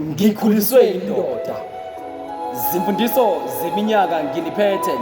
ngikhuliswe yindoda zimfundiso zeminyaka nginiphethe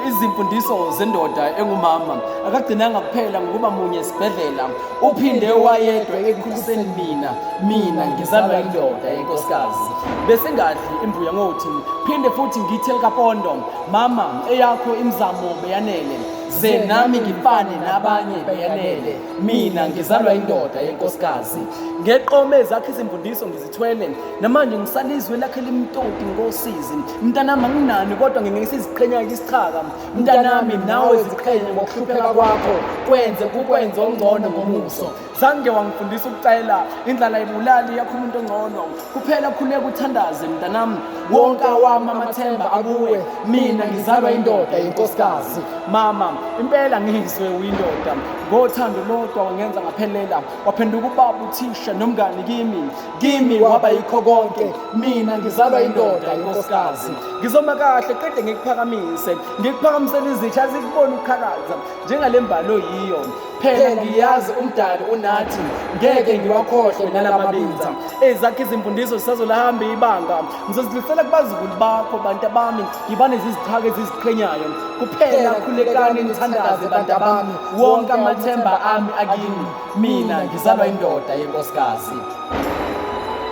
izimfundiso zendoda engumama akagcinanga kuphela ngokuba munye esibhedlela uphinde wayedwa ekukhuliseni mina mina ngizalwa indoda yenkosikazi besingadli imbuya ngothi phinde futhi ngithe likapondo mama eyakho imizamo beyanele ze nami ngifane nabanye beyanele mina ngizalwa indoda yenkosikazi ngeqome zakhe izimfundiso ngizithwele namanje ngisalizwe lakhe limtoti ngosizi mntanami anginani kodwa ngingeke siziqhenya isichaka mntanami nawe ziqhenye ngokuhlupheka kwakho kwenze kukwenze ongcono ngomuso zange wangifundisa ukucela indlala ibulali yakho umuntu ongcono kuphela khuleka uthandaze mntanami wonke awami amathemba akuwe mina ngizalwa indoda yenkosikazi mama impela ngizwe uyindoda ngothando lodwa wangenza ngaphelela waphenduka ubaba uthisha nomngani kimi kimi waba yikho konke mina ngizalwa indoda yenkosikazi ngizoma kahle qede ngikuphakamise ngikuphakamisela izitsha azikubona ukukhalaza njengale mbalo yiyo phela ngiyazi umdali unathi ngeke ngiwakhohlwe nalamabinza ezakhe izimfundiso zisazolahamba ibanga ngizozidlulisela kubazukulu bakho bantu abami ngibane zizithaka eziziqhenyayo kuphela khulekani nithandaze bantu abami wonke amathemba ami akini mina ngizalwa indoda yenkosikazi